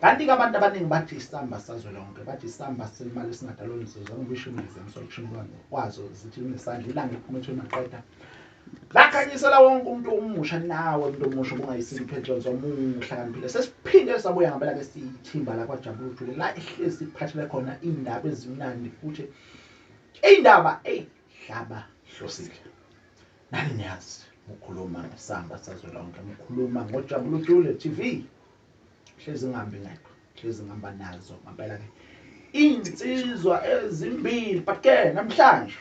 kanti-ke abantu abaningi bathi isamba sazwe lonke bathi isamba semali esingadalonizozwa ngisho imizi emsolishimlwane kwazo zithi linesandla ilanga ephuma ethweni maqeda lakhanyisela wonke umuntu omusha nawe umuntu omusha ubungayisini uphethelo zomuhlakaniphile sesiphinde sabuya ngempela ke siyithimba lakwajabula ujule la ihlezi iphathele khona iy'ndaba ezimnandi futhi iy'ndaba eyi hlaba hlosile nani niyazi mukhuluma ngesamba sazwelonke mukhuluma ngojabula ujule tv hlezi ngihambe ngedwa hlezi ngihamba nazo ngampela ke iy'nsizwa ezimbili but ke namhlanje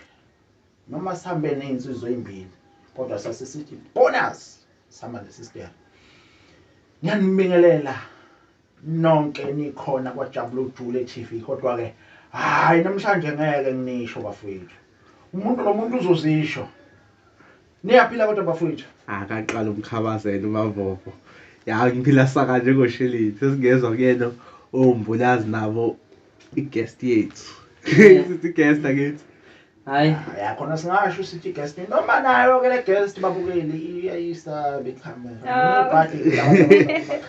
noma sihambe ney'nsizwa ey'mbili kodwa sasisithi bonus sihamba nesistere ngiyanibingelela nonke nikhona kwajabula ujule TV kodwa-ke hhayi namhlanje ngeke ngisho bafowethu umuntu nomuntu uzozisho Niyaphila kodwa bafowethu. Akaqala umkhabazela uMavovo. Ya ngiphila saka njengosheleni. Sesingezwa kuyena ombulazi nabo i-guest yethu. Sithi guest akithi. Hayi. Ya khona singasho sithi guest noma nayo ke le guest babukeli iyayisa be camera. Ah. Party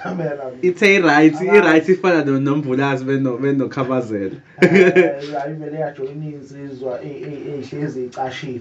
camera. Ithe right, i right ifana no nombulazi beno beno khabazela. Hayi vele yajoyina insizwa ehlezi icashile.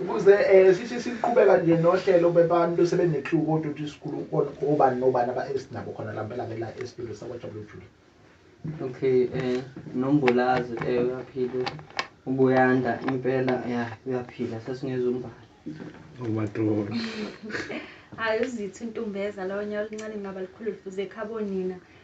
Ukuze sithi siqhubeka nje nohlelo bebantu sebene-clue kodwa ukuthi sikhuluma kona obani nobani abasinabo khona la mpela ke la esitudio sakwajabulujule okay eh nombolazi eh uyaphila ubuyanda impela ya uyaphila sesingezumbala umatrolo hayi uzitha untumbeza lonya oluncane ngaba likhulu lifuze ekhabo nina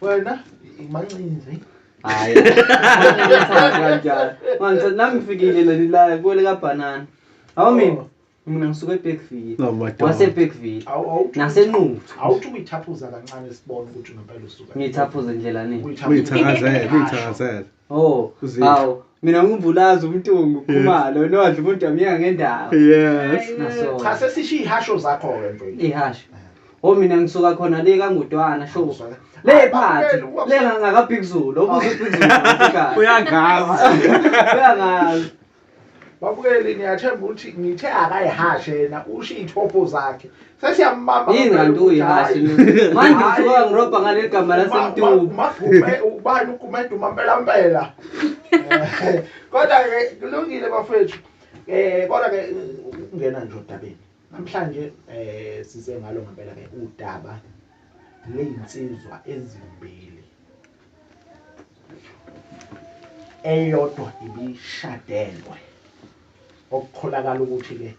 Wena imancinci nje. Hayi. Kanjalo. Manje nami ngifikile la lilayo kuwele ka banana. Hawu mina. Mina ngisuka eBergville. No madoda. Wase Bergville. Awu awu. Nasenquthu. Awuthi uyithaphuza kancane sibone ukuthi ngempela usuka. Ngithaphuze ndlela nini? Uyithakazele, uyithakazele. Oh, Uzethu. awu mina ngumvulazi umtungu khumalo nodla umuntu wamyeka ngendawo. Yes. Naso. cha sesisho iy'hasho zakho-ke mfethu Ihasho. Oh mina ngisuka khona le kangudwana sho. Ngisuka- Le Hayi, phansi. bakuphela, ukuba- Le ngaka Big Zulu, obuza uBig Zulu. Uyangazi. Uyangazi. babukeli ngiyathemba ukuthi ngithe akayihashe yena ushiye ithopho zakhe sesiyambamba yini kanti uyihashe manje usuka ngirobha ngaleli gama lasemtubu ubani ugumede umampelampela kodwa-ke kulungile bafethu um kodwa-ke ukungena nje odabeni namhlanje um size ngalo ngempela-ke udaba ley'nsizwa ezimbili eyodwa ibishadelwe okukholakala ukuthi-ke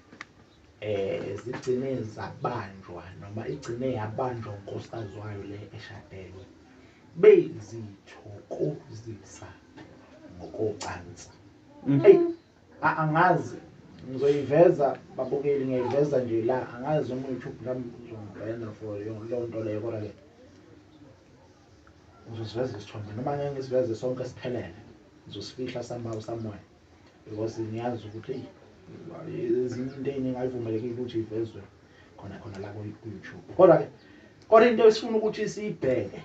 eh zigcine zabanjwa noma igcine yabanjwa unkosikazi wayo le eshadelwe beyizithokozisa ngokocansi mm. eyi angazi ngizoyiveza babukeli ngiyayiveza nje la angazi uma u-youtube nami uzongibhena for leyo nto leyo kodwa-ke uzosiveza isithombe noma ngeke ngisiveze sonke siphelele ngizosifihla somehow somewhere because ngiyazi ukuthi ezinye into ey'ningi ayivumelekile ukuthi ivezwe khona khona la ku-youtube kodwa-ke kodwa into esifuna ukuthi siyibheke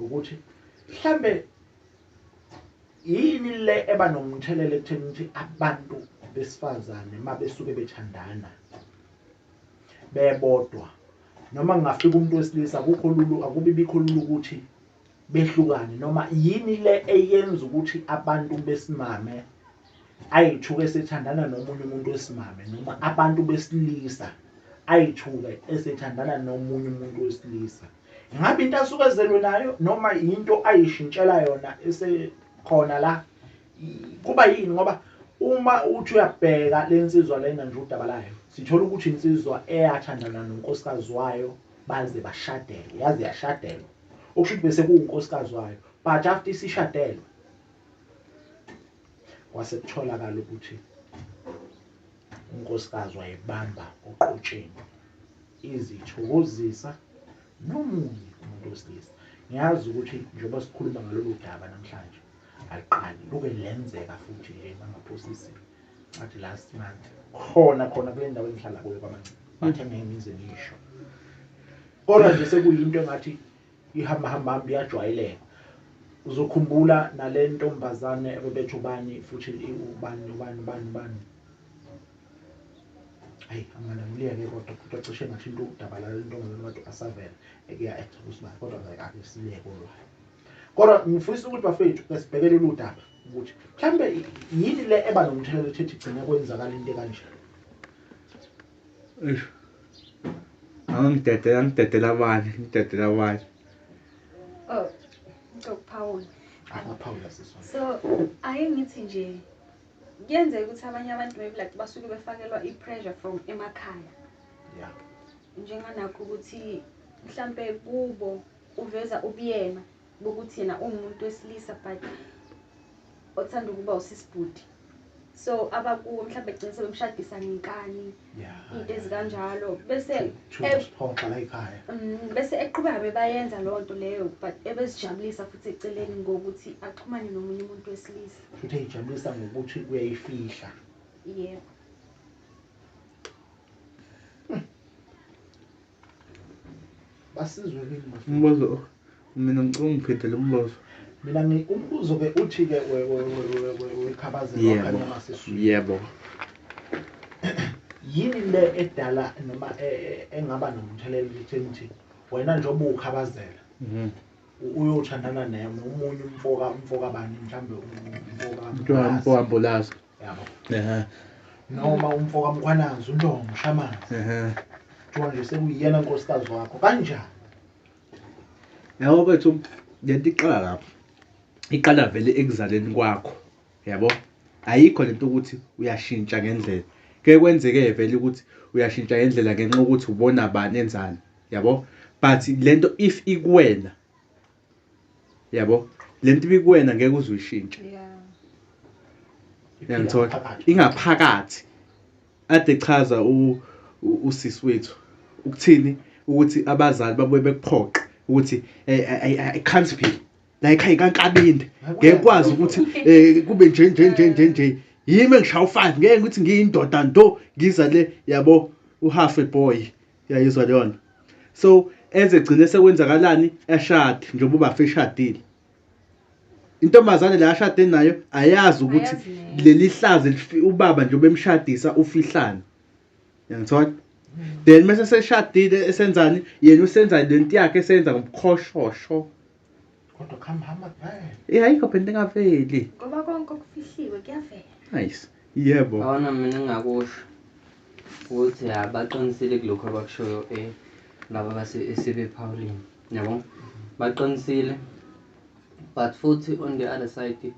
ukuthi mhlambe yini le eba nomthelela ekutheni ukuthi abantu besifazane uma besuke bethandana bebodwa noma kungafika umuntu wesilisa akukho lulu akubi bikho lulu ukuthi behlukane noma yini le eyenza ukuthi abantu besimame ayithuke sethandana nomunye umuntu wesimame noma abantu besilisa ayithuke esethandana nomunye umuntu wesilisa ngabe into asuke ezelwe nayo noma yinto ayishintshela yona esekhona la Kuba yini ngoba uma uthi uyabheka lensizwa lena nje udaba layo sithola ukuthi insizwa eyathandana nonkosikazi wayo baze bashadele yaze yashadelwa okusho ukuthi bese kuwunkosikazi wayo but after isishadelwe kwase kutholakala ukuthi unkosikazi wayebamba oqotsheni izithokozisa nomunye umuntu wesilisa ngiyazi ukuthi njengoba sikhuluma ngalolu daba namhlanje Aliqali liloke lenzeka futhi nje bangaphosisi ngathi last month khona khona kule ndawo engihlala kuyo kwamancinci bathe ngeke ngize ngisho kodwa nje sekuyinto engathi ihamba hamba hamba iyajwayeleka uzokhumbula nale ntombazane ebebethe ubani futhi ubani ubani ubani ubani hayi angana ngiliyeke kodwa kodwa cishe ngathi into udaba la lentombazane wathi asavela ekuya ekusibani kodwa ngeke akusibeke olwayo kodwa ngifisa ukuthi bafethu ke sibhekele uludaba ukuthi mhlambe yini le eba nomthelela ethethi igcine kwenzakala into kanje eish angidedela ngidedela abanye ngidedela abanye oh ngokuphawula akaphawula siswa so ayengithi nje kuyenzeka ukuthi abanye abantu maybe like basuke befakelwa i-pressure from emakhaya yeah njenganakho ukuthi mhlampe kubo Uveza ubuyena bokuthi yena ungumuntu wesilisa but othanda ukuba usisi bhuti. So abakuwo mhlawumbe gcine sebemshadisa ngenkani into ezikanjalo bese siphoxa la ekhaya. Mm, bese eqhubeka bebayenza leyo nto leyo but ebezijabulisa futhi eceleni ngokuthi axhumane nomunye umuntu wesilisa. Futhi eyijabulisa ngokuthi uyayifihla. Yebo. basizwe kimi manje. Umbuzo mina ngicela ungiphendele umbuzo. Mina ngi umbuzo ke uthi ke we we we we we khabaze wakhanya masisu. Yebo. Yini le edala noma e, e, engaba nomthelela ekutheni ukuthi wena njengoba ukhabazela. Mhm. Uyothandana naye nomunye umfoka umfoka bani mhlambe umfoka. Mfoka mbulaza. yabo Ehhe, noma umfo kamkhwanazi untongo mshamanzi ehhe. kuthiwa nje sekuyiyena nkosikazi wakho kanjani Yabo bethu lento iqala lapho. Iqala vele ekuzaleni kwakho. Yabo? Ayikho lento ukuthi uyashintsha ngendlela. Ke kwenzeke vele ukuthi uyashintsha ngendlela ngenxa ukuthi ubona bani enzani. Yabo? But lento if ikuwena yabo le nto ibikuwena ngeke uze uyishintshe yangithola ingaphakathi ade chaza usisi wethu ukuthini ukuthi abazali babuye bekuphoqe ukuthi eh, eh, i can't be la ekhaya kankabinde ngeke kwazi ukuthi eh, kube nje nje nje nje nje yimi engishaya u-five ngeke ukuthi ngiyindoda nto ngiza le yabo uhafe boy uyayizwa leyo nto so eze gcine sekwenzakalani eshade njengoba ubafa eshadile intombazane la ashade nayo ayazi ukuthi leli hlazi ubaba njengoba emshadisa ufihlane yangithola then mase seshadile esenzani yena usenza lento yakhe esenza ngobukhoshosho kodwa kuhamba hamba kuphela Eh ayikho phela into engaveli. ngoba konke okufihliwe kuyavela Nice. Yebo. Awona mina engingakusho ukuthi ya baqinisile kulokho abakushoyo eh laba base esebephawulini yabo baqinisile but futhi on the other side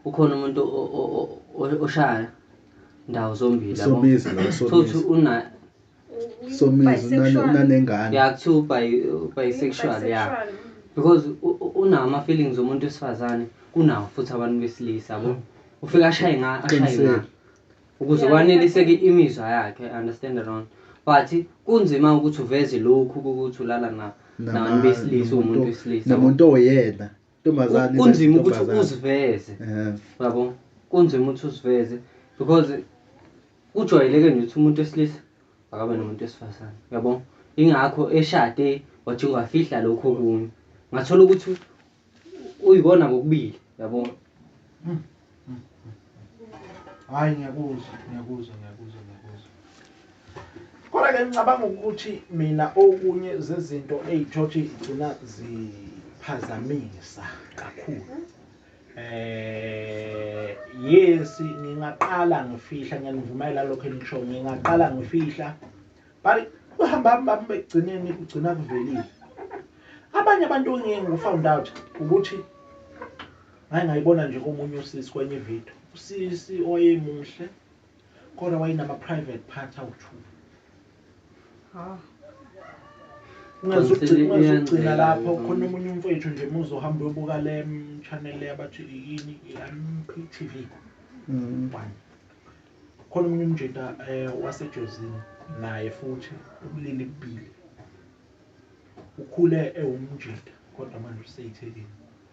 ukhona umuntu o- o- o- o- oshaya ndawo zombili yabo Somizi lo futhi somizi. una somizi unanengane yeah kuthiwa ubi-bisexual ya because unawo ama-feelings omuntu wesifazane kunawo futhi abantu besilisa bo hmm. ufike ashaye nga ashaye nga ukuze kwaneliseke imizwa yakhe understand wrong but kunzima ukuthi uveze lokhu ukuthi ulala na nabantu besilisa umuntu wesilisa namuntu oyena Ntombazane kunzima ukuthi ntombazane. uziveze Eh, yabo kunzima ukuthi uziveze because kujwayeleke nje ukuthi umuntu wesilisa akabe nomuntu wesifazane yabo ingakho eshade wajike wafihla lokho okunye ngathola ukuthi uyikona kokubili yabo hayi ngiyakuzwa ngiyakuzwa ngiyakuzwa ngiyakuzwa kodwa ke ngicabanga ukuthi mina okunye zezinto eyithothi igcina ziphazamisa kakhulu eh yes ngingaqala ngifihla ngiyanivumela lokho enisho ngingaqala ngifihla but uhamba hamba begcineni kugcina kuvelile abanye abantu ngiye ngifound out ukuthi Ngake ngayibona nje komunye usisi kwenye ivideo. Usisi owayemuhle kodwa wayenama private part awu-two. Ah. Ungazugcina lapho khona omunye umfowethu nje muze uhambe uyobuka le channel le abathi yini i-MP TV. Mm. One. Khona omunye umjita eh wasejozini naye futhi ubulili bubili. Ukhule ewumjita kodwa manje useyithekile.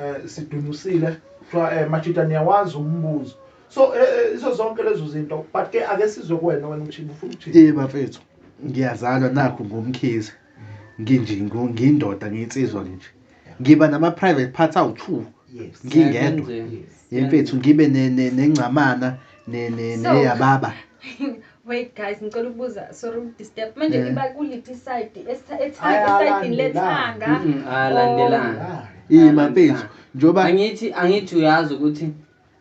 eh sidunusile kuthiwa eh machita niyawazi umbuzo so eh, eh, izo zonke lezo zinto but ke ake sizwe kuwena wena umshini ufuna ukuthini Eh bafethu ngiyazalwa nakho ngomkhize nginje ngo- ngiyindoda ngiyinsizwa nje ngiba nama private parts awu2 yes ngingedwa Siyakwenzela. yes yemfethu ngibe ne- ne- nengcamana ne- ne- So- neyababa Wait guys ngicela ukubuza sorry ukudisturb manje niba kuliphi iside esayidini lethanga alandelanga yini mfethu njoba angithi angithi uyazi ukuthi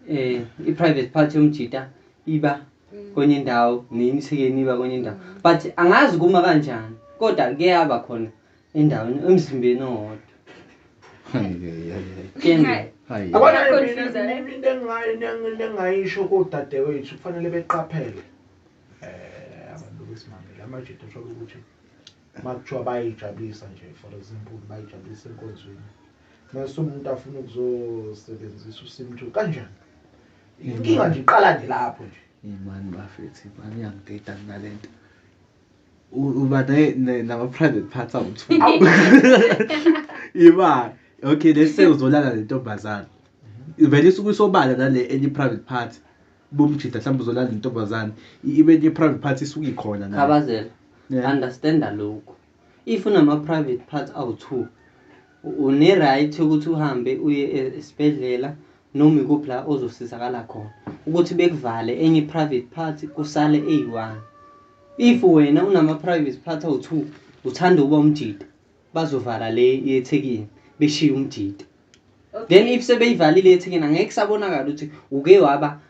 eh i private part yomjita iba mm. kwenye indawo neyimsikeni iba kwenye indawo but angazi kuma kanjani kodwa kuyaba khona endaweni emzimbeni owodwa lengayisho kodadewethu kufanele beqaphele um abantu besimangele amajuda asholo ukuthi uma kuthiwa bayayijabulisa nje for example bayijabulisa enkonzweni mase umuntu afuna ukuzosebenzisa usimthu kanjani inkinga nje iqala nje lapho nje imani bafethi imani yangidida kunale nto uba nama-private parts awuthu iba okay let's say uzolala nentombazane vele isuke isobala nale enye i-private part bomjida mhlawumbe uzolala nentombazane ibe enye i-private part isuke ikhona nayo. khabazela Yeah. understanda lokhu if unama-private parts awu-two Une right yokuthi uhambe uye esibhedlela noma ikuphi la ozosizakala khona. Ukuthi bekuvale enye i-private part kusale eyi-one. If wena unama-private part awu-two uthanda ukuba umjita bazovala le yeThekwini beshiye umjita. Then if sebeyivalile eThekwini angeke kusabonakala ukuthi uke waba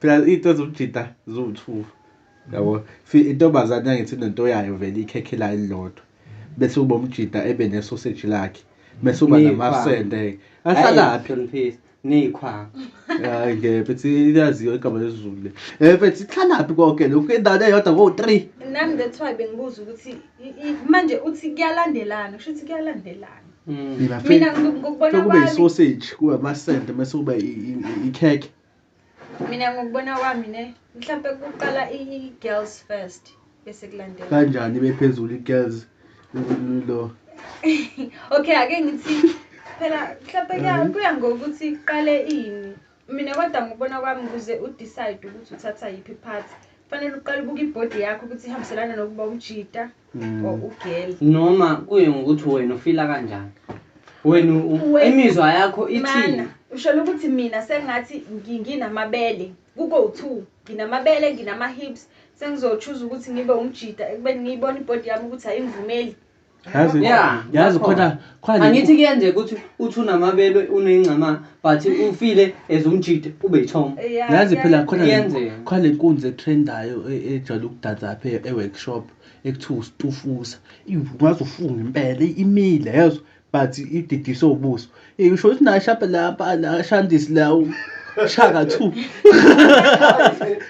phela into ezomjita ziwu-two yabo fi intombazane yangithi nento yayo vele ikhekhe layo elilodwa bese uba umjita ebe nesoseji lakhe bese uba Ney'khwama. namasende-ke ahlalaphi Hloniphisa. Ney'khwama. hayi ngeke mfethu iyaziwa igama lezulu le um mfethu ihlalaphi konke lokhu endaweni eyodwa kowu-three nami that's why bengibuza ukuthi i- i- manje uthi kuyalandelana kusho ukuthi kuyalandelana Mm. Mina ngi- ngokubona kube kwami- isoseji kube amasende bese kube i- i- i- ikhekhe mina ngokubona kwami ne mhlampe kuqala i-girls first bese kulandela kanjani bephezulu i-girls lo okay ake ngithi phela mhlampe mhm. kuya ngokuthi kuqale ini mina kodwa ngokubona kwami ukuze udecide ukuthi uthatha yiphi part kufanele uqale ubuke ibhodi yakho ukuthi ihambiselana nokuba umjita Mm. or ugirl noma kuye ngokuthi wena ufila kanjani wena u- u- Wena- imizwa yakho ithini mana usholo ukuthi mina sengathi ngi- nginamabele kuko u-two nginamabele nginama-hips sengizotshuza ukuthi ngibe umjita ekubeni ngiyibona ibhodi yami ukuthi ayingivumeli Yazi- Yeah, yazi lapho. khona Qha nje- Angithi kuyenzeka ukuthi uthi unamabelwe unengcama but ufile as umjide ube yithoma. Yeah, yazi phela yeah. khona le- Kuyenzeka. khona le nkunzi etrendayo e- ejwayele ukudansa lapha e- e-workshop ekuthiwa usitufuza ingaze ufunge impela i- imile yezwa but ididiswe ubuso Eh, usho ukuthi nashapha lapha la shandisi la u- shaka two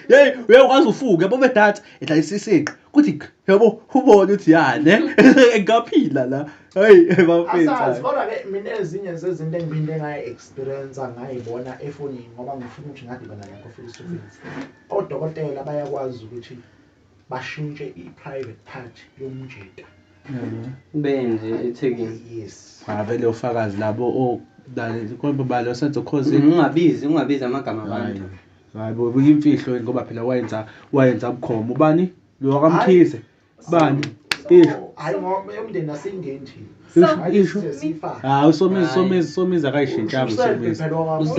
yeyi uyakwazi ufunge yabo bedatha edlalisa isiqi kuthi yabo ubone ukuthi yane ngaphila la Hey, bafethu. Kodwa ke mina ezinye zezinto engiphinde ngaye experience ngayibona efonini ngoba ngifuna ukuthi ngadibana nakho futhi sufisi. Odokotela bayakwazi ukuthi bashintshe i-private part yomjita. Benze ethekeni. Yes. Ngavele ufakazi labo o oh, kodwa balo senzo cause mm, ungabizi ungabizi amagama abantu. Hayi bo, imfihlo ngoba phela wayenza wayenza bukhoma ubani? Lo wakamkhize. bani hawu somizi somizi somizi akayishintshanga usomizi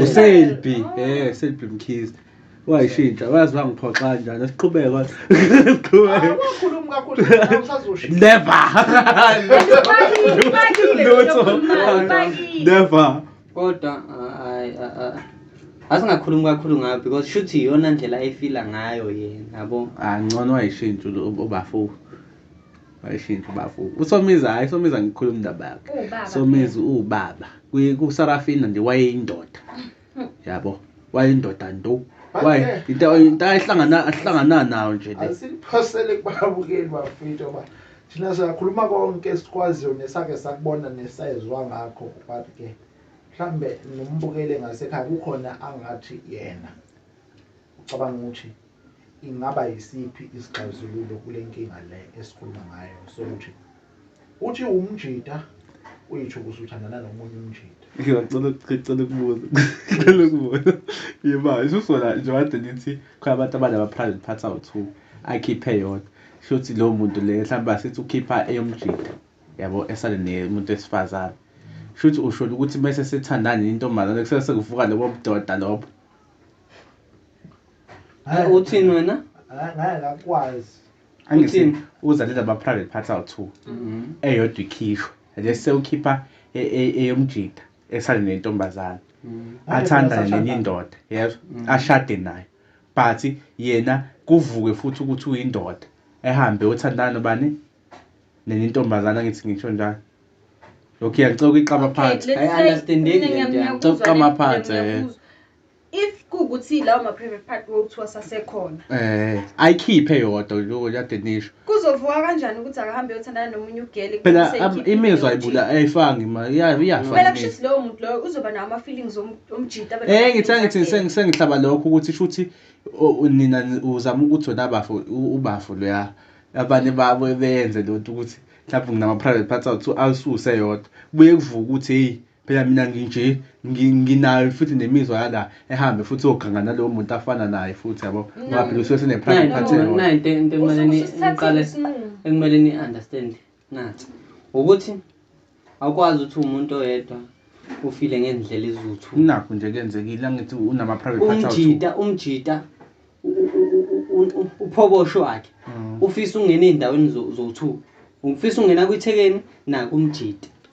uselbi um selbi mkhizi wayishintsha wazi wangiphoxa kanjani siqhubeka never never kodwa asingakhulumi kakhulu ngayo because shuthi iyona ndlela ayifila ngayo yena yabo ah ngcono wayishintsha ubafo wayishintsha ubafo usomiza hayi somiza ngikhuluma indaba yakhe somiza ubaba kusarafina nje wayeyindoda yabo wayeyindoda nto waye into into ayihlangana ahlangana nayo nje le asiphosele kubabukeli bafethu ba Thina siyakhuluma konke esikwaziyo nesake sakubona nesayezwa ngakho but ke mhlambe nombukele ngasekhaya kukhona angathi yena ucabanga ukuthi ingaba yisiphi isixazululo kule nkinga le esikhuluma ngayo sokuthi uthi umjita uyitho ukuthi uthandana nomunye umjita ngicela ngicela ukubuza ngicela ukubuza yimanje usona nje wade ngithi khona abantu abane ama-private parts awu-two akhiphe eyodwa shuthi lowo muntu le mhlawumbe asithi ukhipha eyomjita yabo esale nemuntu wesifazane shuthi usholo ukuthi mese sethandana nentombazane kusele sekuvuka lobo budoda lobo Hayi uthini wena? Ngeke ngakwazi. Angithi uzalela ama private parts awu2. Mhm. Eyodwa ikhishwe. Nje sewukhipha e, e, eyomjita. esale nentombazane mm. athanda nenye indoda yezwa mm. ashade nayo but yena kuvuke futhi ukuthi uyindoda ehambe othandana nobani nenye intombazane angithi ngisho njalo lokhu iyacoka iqama phansi ayi understandeki le nto iyacoka iqama phansi eh. if kuwukuthi lawo ma-private part kuthiwa sasekhona Eh, ayikhiphe yodwa lokho kade nisho. kuzovuka kanjani ukuthi akahambe eyothandana nomunye ugeli Phela kube am- seyikhiphile imizwa leyo ibula ayifanga imali iya- jita. iyafa. kumele imizwa. kushuthi lowo muntu loyo uzoba nawo ama-feelings om- omjita abe Eh ngithi nama-feelings angithi agele. sengihlaba lokho ukuthi shuthi o- u- nina ni- uzama ukuthi wena bafo u- ubafo loya abanye babo benze lonto ukuthi mhlawumbe nginama private parts awuthi awususe yodwa buye kuvuka ukuthi hey Phela mina nginje ngi- nginayo futhi nemizwa yala ehambe futhi oganga nalowo muntu afana naye futhi yabo ngoba phela usuke sene private Nayi part into- yona. nayi into into ekumele Usuke ni- usuthathile niqale isinqumo. ekumele ni-understand na ukuthi awukwazi ukuthi uwumuntu oyedwa ufile ngendlela ezuthu nakho nje kuyenzekile angithi unama private part out. umjita umjita u- u- u- u- u- uphobosho wakhe Mm. ufisa ungena ey'ndaweni zo- zowu-two ufisa ungena kwithekeni nakumjita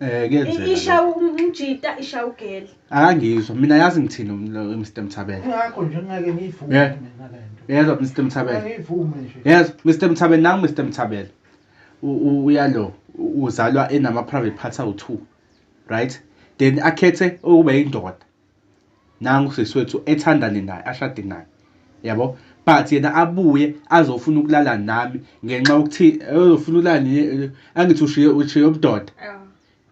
Eh kuyenzeka. Ishawa umjita ishawa ugeli. Akangizwa mina yazi ngithini Mr Mthabela. Ngakho nje ngeke ngiyivume mina lento. Yezwa Mr Mthabela. Ngiyivume nje. Yezwa Mr Mthabela nangu Mr Mthabela. Uyalo uzalwa enama private parts awu2. Right? Then akhethe ukuba indoda. nangu sisi wethu ethandane naye ashade naye yabo but yena abuye azofuna ukulala nami ngenxa yokuthi ayofuna ukulala nini angithi ushiye ushiye ubudoda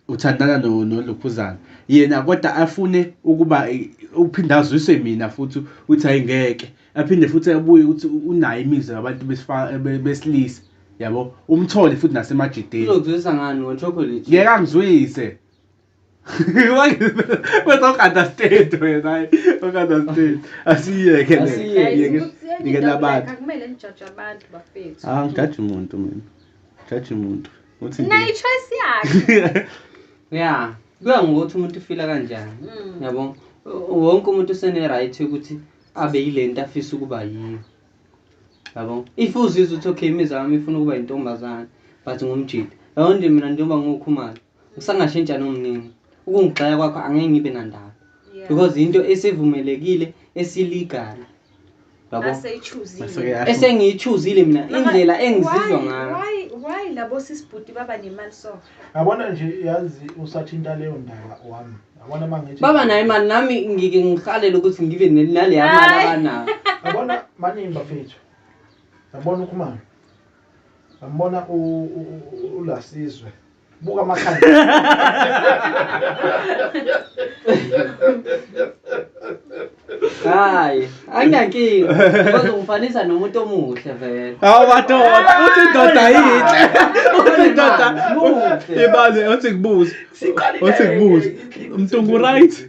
uthandana no nolukhuzana yena kodwa afune ukuba uphinde azwise mina futhi uthi ayingeke aphinde futhi abuye ukuthi unayo imizwa yabantu besilisa yabo umthole futhi nasemajideni uzokuzwisa ngani ngo chocolate ngeke angizwise Mas o cara das tetas, né? O cara das tetas. Assim é, que Assim é. Ninguém dá bate. Ah, chato muito mesmo. Chato muito. Na icho esse acho. Yeah. Kuya ngokuthi umuntu ufila kanjani. Mm. Yabo. Wonke umuntu usene right ukuthi abe yilento afisa ukuba yiyo. Yabo. If uzizwa ukuthi okay imizamo ifuna ukuba intombazana but ngumjita. Yabo nje mina njengoba ngiwukhumalo. usangashintsha nomnini ukungigxeka kwakho angeke ngibe nandaba Yeah. because into esivumelekile esilegal yabo Aseyichuzile. Maseke- esengiyichuzile mina Noma- indlela engizizwa why- ngayo why- Why labo sisibhuti baba nemali so? yabona nje yazi usathinta leyo ndaba wami yabona uma ngithi baba naye mani nami ngike ngihalele ukuthi ngibe ne- naleya mali Hayi. abanayo yabona maningi bafethu yabona ukhumalo Ngambona u ulasizwe. Buka amakhanda. Hayi, anginankinga. Bazongifanisa nomuntu omuhle vele. Hawu madoda, uthi indoda yinhle. Uthi indoda Muhle. ibale uthi kubuze. Uthi kubuze. Mtungu right.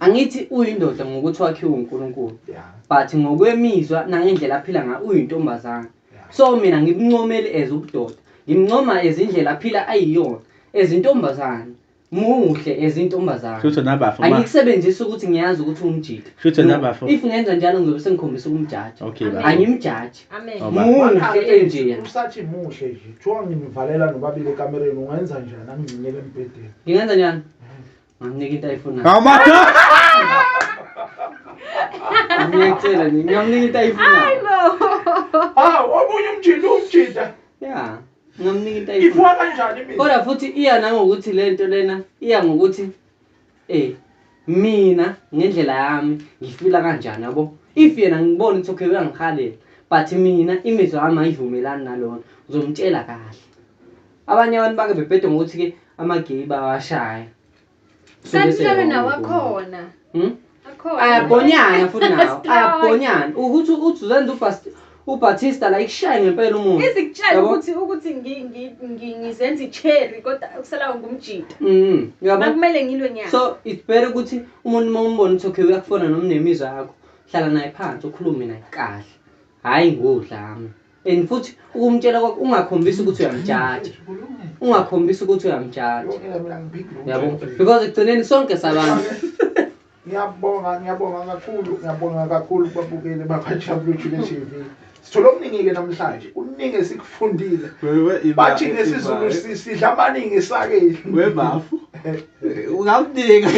Angithi uyindoda ngokuthi wakhiwe uNkulunkulu. Yeah. But ngokwemizwa nangendlela aphila ngayo uyintombazana. Yeah. So mina ngimncomeli as ubudoda. Ngimncoma ezindlela aphila ayiyona ezintombazana. Muhle ezintombazana. Shutho nabafo. Angikusebenzisa ukuthi ngiyazi ukuthi umjita. Shutho nabafo. If ngenza njalo ngizobe sengikhombisa ukumjaja. Okay baba. Angimjaji. Amen. Oh, muhle enje. Usathi muhle nje. Kuthiwa ngimvalela nobabili ekamereni ungenza njani angigcinele embhedeni. Ngingenza njani? Ngamnika into ayifunayo. Amada. Ngiyacela nje ngamnika into ayifunayo. Ah, omunye umjita umjita. Yeah. Ngamnika into ayifunayo. Ifuwa kanjani mina? Kodwa futhi iya nangokuthi lento lena iya ngokuthi eh mina ngendlela yami ngifila kanjani yabo if yena ngibona ukuthi okay uyangihalela but mina imizwa yami ayivumelani nalona ngizomtshela kahle abanye abantu bake bebhede ngokuthi ke ama-gay bawashaya kanti lona nawo akhona hmm? ayabhonyana futhi nawo ayabhonyana ukuthi uzanda ubatista la ikushaye ngempela umuntu izikutshela ukuthi ukuthi ngizenza icherry kodwa kusalawo ngumjita mm, makumele ngilwe nyaka so it's better ukuthi umuntu uma umbona ukuthi okay uyakufona noma unemizwa yakho hlala naye phansi ukhulume naye kahle Hhayi nguwe udlame and futhi ukumtshela kwakho ungakhombisi ukuthi uyamjaja ungakhombisi ukuthi uyamjaja yabo because ekugcineni sonke sabantu ngiyabonga ngiyabonga kakhulu ngiyabonga kakhulu kubabukeli bakajabulujule t v sithole okuningi-ke namhlanje kuningi esikufundile bathi ngesizulu sidla amaningi isakeli webafu ungamdinga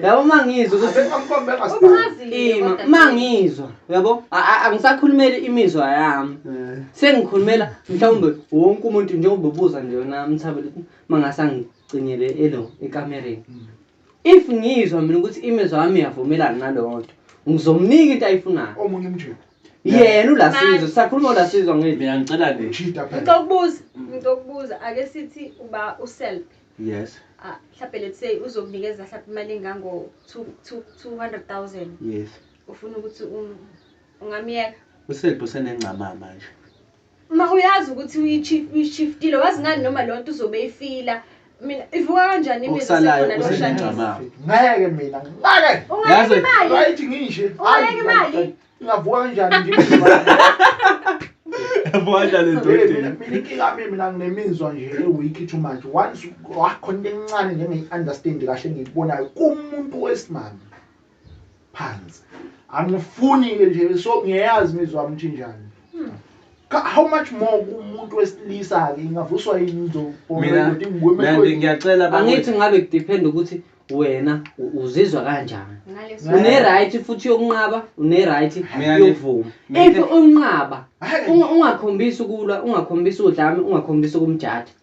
yabo mangizwa mangizwa yabo angisakhulumeli imizwa yami eh. sengikhulumela mhlawumbe wonke umuntu njengoba ubuza nje yona mthabele mangase angigcinele elo ekamereni mm. if ngizwa mina ukuthi imizwa yami iyavumelana naloo nto ngizomnika into ayifunayo omunye umjeni yena ulasizwe sisakhuluma ulasizwe ngithi mina ngicela nje cheat up ngicela ukubuza ngicela ukubuza ake sithi uba uself yes ah mhlawumbe let's say uzokunikeza mhlawumbe imali engango 200000 yes ufuna ukuthi ungamyeka uself usenengcamama manje Ma uyazi ukuthi uyi-chief uyishiftile wazi ngani noma leyo nto uzobe eyifila mina ivuka kanjani imizwa Okusalayo sekhona lo kuseningi shadisi mama. ngeke mina ngeke ungayeka Yazi- imali right ngishe Ungayeka imali? ngavuka kanjani nje Yavuka kanjani Mina- mina endodeni? mina inkinga yami mina nginemizwa nje ewiki too much once wakhona into encane njengeyi-understand kahle engiyikubonayo kumuntu wesimame phansi angifuni ke nje so ngiyayazi imizwa yami ukuthi njani hmm. how much more kumuntu wesilisa ke ingavuswa yini ngizobongathi ngwemekwe ngiyacela angithi ngabe kudepend ukuthi wena uzizwa kanjani une right futhi yokunqaba une right yokuvuma if unqaba ungakhombisi ukulwa ungakhombisi udlame ungakhombisi ukumjatha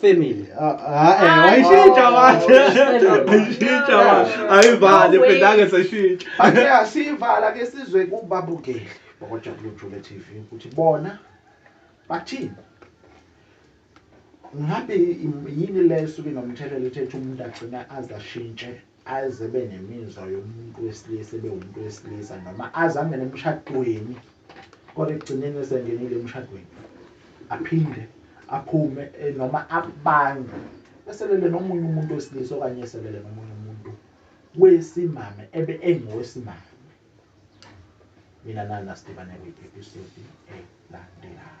family wayishintsha watheshintsha ayivale phendake seshintsha ake asiyivala ke sizwe kubabukeli bakwajabulo jule tv ukuthi bona bathini ngabe yini le esuke nomthelela ethetha umuntu agcina aze ashintshe aze ebe nemizwa yomuntu wesilisa ebe umuntu wesilisa noma aze angene emshadweni kodwa ekugcineni esengenile emshadweni aphinde aphume eh, noma abange eselele nomunye umuntu wesilisa okanye eselele nomunye umuntu wesimame ebe engowesimame mina nana sidibane kwi-episode elandelayo